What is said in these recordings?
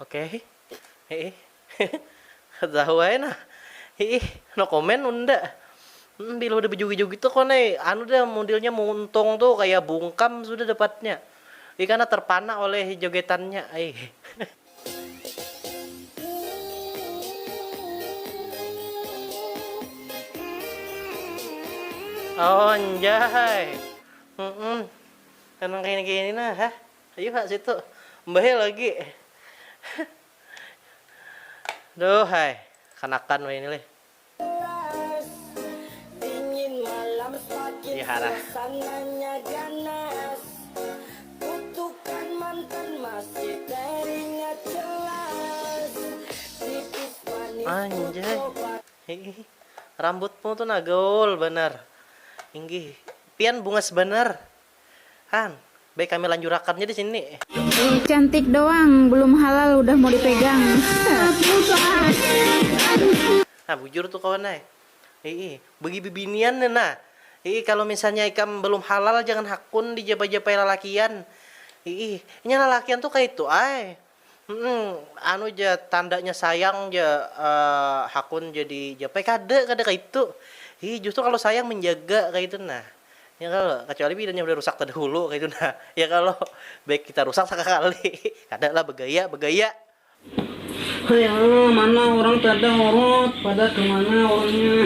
Ok hiih kada tahu ai nah hiih no comment unda bila udah bejoget joget tu kawan ai anu dah modelnya muntung tu kaya bungkam sudah dapatnya ih karna terpana oleh jogetannya aih. Anjay humm emang kaya ini kaya ini nah hah. Ayu ha situ. Mbahya lagi. Duh hai. Kanakan wahini lih. Ih hara. Anjay. Hiih. Rambutmu tu nah gaul banar. Inggih. Pian bungas banar. Hang, baik kami lanjurakan ja disini. Cantik doang, belum halal udah mau dipegang. Nah bujur tuh kawan ai. Iih, bagi bibinian nih nah. Iih, kalo misalnya ikam belum halal jangan hakun dijapai-japai lalakian. Iih, inya lalakian tuh kaitu ai. anu ja tandanya sayang ja hakun ja di japai kada kada kaitu hi justru kalo sayang menjaga kaitu nah ya kalo kacuali bidanya sudah rusak terdahulu kaitu nah ya kalo baik kita rusak sakakali kada lah begaya begaya. Hai Allah mana urang kada urut pada kemana urangnya.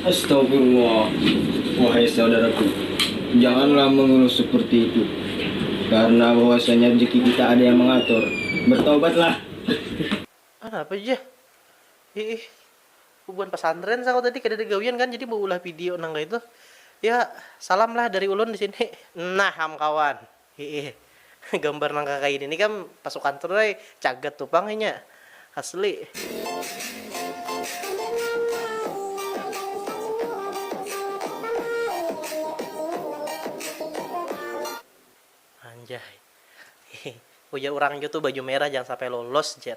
Astagfirullah Wahai saudaraku Janganlah mengeluh seperti itu Karena bahwasanya rezeki kita ada yang mengatur Bertaubatlah Ada apa jar? Iih, bubuhan pasantren sa ku tadi kadada gawian kan jadi baulah video nang kaitu. Ya, salam lah dari ulun di sini. Nah am kawan. Hiih. Gambar nang kakaya ini kam pasukan Troy cagat tu pang inya. Asli. Anjay. Hiih. Ujar urang jo tu baju merah jangan sampai lolos jer.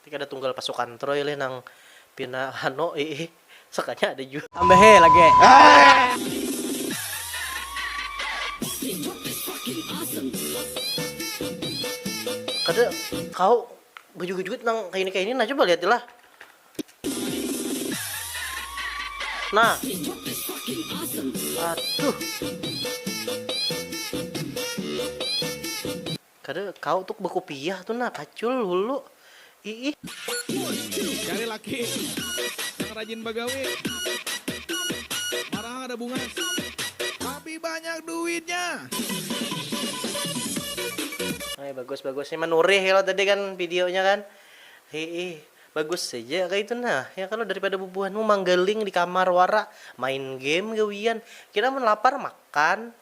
Tapi kada tunggal pasukan Troy leh nang pina ano iih sekanya ada jua. Tambah he lage. Kada kaau bajugit jugit nang kaini kaini nah coba lihat lah nah aduh. Kada, kau tuk bakupiah tu nah kacul hulu iih. Cari laki nang rajin bagawi, marahang ada bungas, tapi banyak duitnya. Hai bagus bagus ni manurih kalo tadi kan videonya kan hiih bagus haja kaitu nah ya kalo daripada bubuhanmu manggaling di kamar wara main game gawian kira mun lapar makan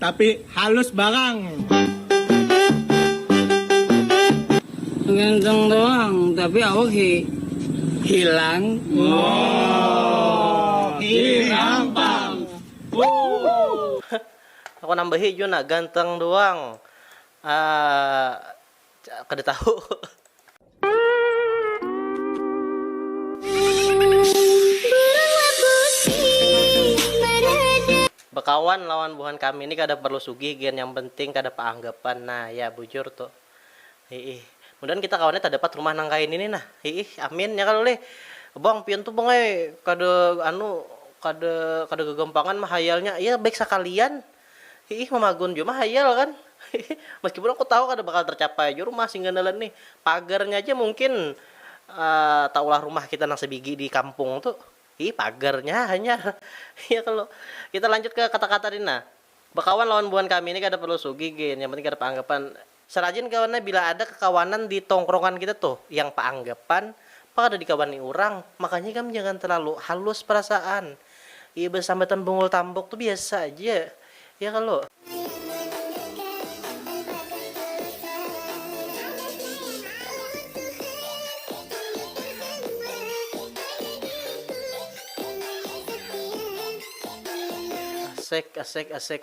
Tapi halus barang. Ganteng doang tapi awak hi hilang. Woh hi gampang. Aku nambahi jua nah ganteng doang. Kada tahu. Bekawan lawan buhan kami ni kada perlu sugih gin yang penting kada paanggapan nah ya bujur tu hiih mudahan kita kawannya tadapat rumah nang kaya ini ni nah hiih amin ya kalo lih bang pian tu bang ai kada anu kada kada gagampangan mahayalnya ya baik sakalian. Hiih mamagun jua mah hayal kan. Meskipun aku tahu kada bakal tercapai jua rumah sing gandalan nih. Pagarnya aja mungkin taulah rumah kita nang sabigi di kampung tu. Hiih pagarnya hanyar. Iya kalo. Kita lanjut ke kata-kata ni nah. Bakawan lawan buhan kami ni kada perlu sugih gin, yang penting kada paanggapan Sarajin kawan ai bila ada kakawanan di tongkrongan kita tuh yang paanggapan pa kada dikawani urang, makanya ikam jangan terlalu halus perasaan. Iya bersambatan bungul tambuk tuh biasa aja, ya kalo? Asek asek asek.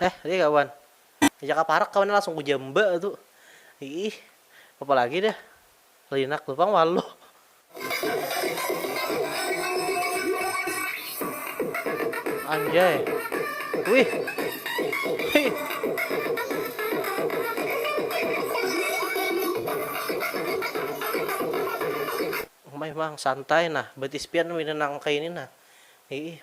Heh lih kawan, ijak aparak kawannya langsung ku jamba tu, iih apa lagi dah linak tu pang waluh. Anjay wih hih. Umai mang santai nah betis pian wina nang kaini nah, iih.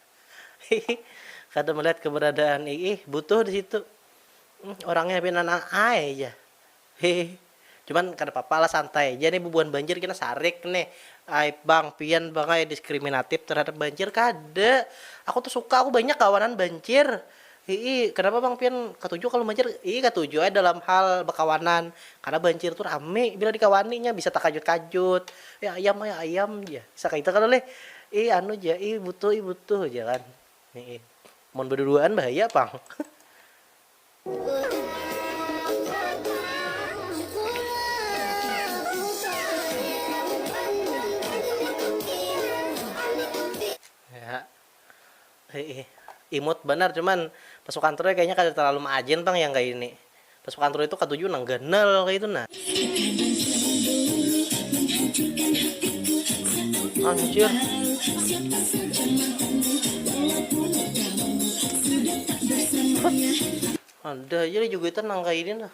Hiih kada melihat keberadaan iih butuh di situ um orangnya pina na ai ja hiih cuman kada papa lah santai ja nih bubuhan banjir kena sarik nih aib bang pian bang ai diskriminatif terhadap banjir kada aku tuh suka aku banyak kawanan banjir. Hi'i, kenapa pang pian katuju kalu majar? Hi'i katuju ai dalam hal bakawanan, karna bancir tu rami bila dikawani nya, bisa takajut-kajut, ai ayam ai ayam jar, sakaitu kalo lih, ih anu jar, ih butuh ih butuh jar kan, hi'i, mun baduduaan bahaya pang. Hiih. Imut banar cuman pasukan Troy kayaknya kada terlalu maajin pang yang kaya ini. Pasukan Troy tu katuju nang ganal kaya itu nah. Ada haja lih jugitan nang kaya ini nah.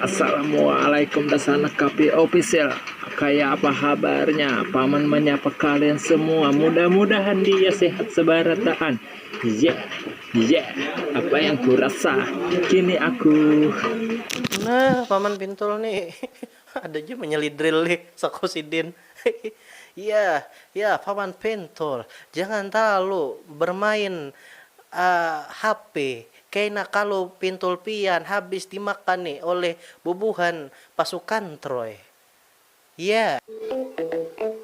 Assalamualaikum Dasana Kapi Official Kaya apa habarnya Paman manyapa kalian semua Mudah mudahan dia sehat sebarataan Yeah Yeah Apa yang kurasa Kini aku Nah Paman Pintul nih Ada ja menyelidril nih saku sidin. Iya, iya paman pintur, jangan talalu bermain HP, kaina kalu pintul pian habis dimakani oleh bubuhan pasukan troy. Iya.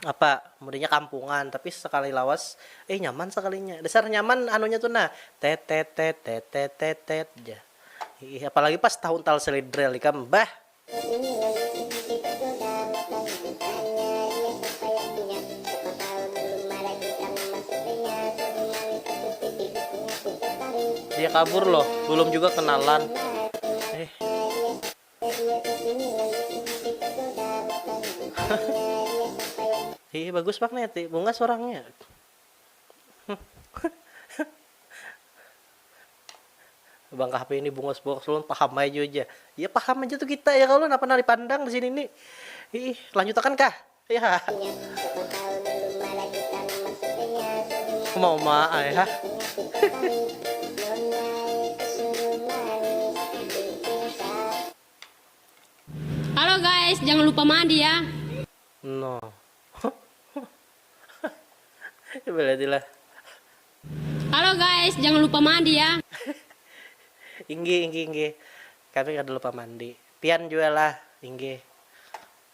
apa mudinya kampungan tapi sakali lawas eh nyaman sakalinya dasar nyaman anunya tu nah tetetetetetetetet jar iih apalagi pas tahuntal seledrel ikam bah. Ini lagi inti betul dapat bantu tanya iya siapa yang punya siapa tahu belum ada kita memasuk denya suruh mali pasus pipi bukunya ku tertarik dia kabur loh belum juga kenalan eh Hihi bagus pang nih ti bungas orangnya. Bang kahpe ini bungas bungkas ulun paham haja jua ja. Ya paham haja tu kita ya kalo napa nang dipandang di sini ni. Hiih lanjutakan kah. Halo guys, jangan lupa mandi ya. Halo guys, jangan lupa mandi ya. Inggih inggih inggih, kami kada lupa mandi, pian jua lah inggih.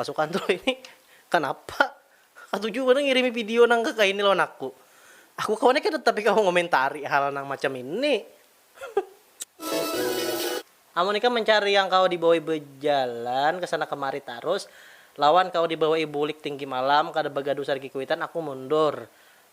pasukan tu ini kanapa katuju banar ngirimi video nang kakaini lawan aku, aku kawan nya kada tapi kawa mengomentari hal nang macam ini. Amun ikam mancari yang kawa dibawai bajalan kesana kemari tarus lawan kawa dibawai bulik tinggi malam kada bagaduh sarigi kuitan aku mundur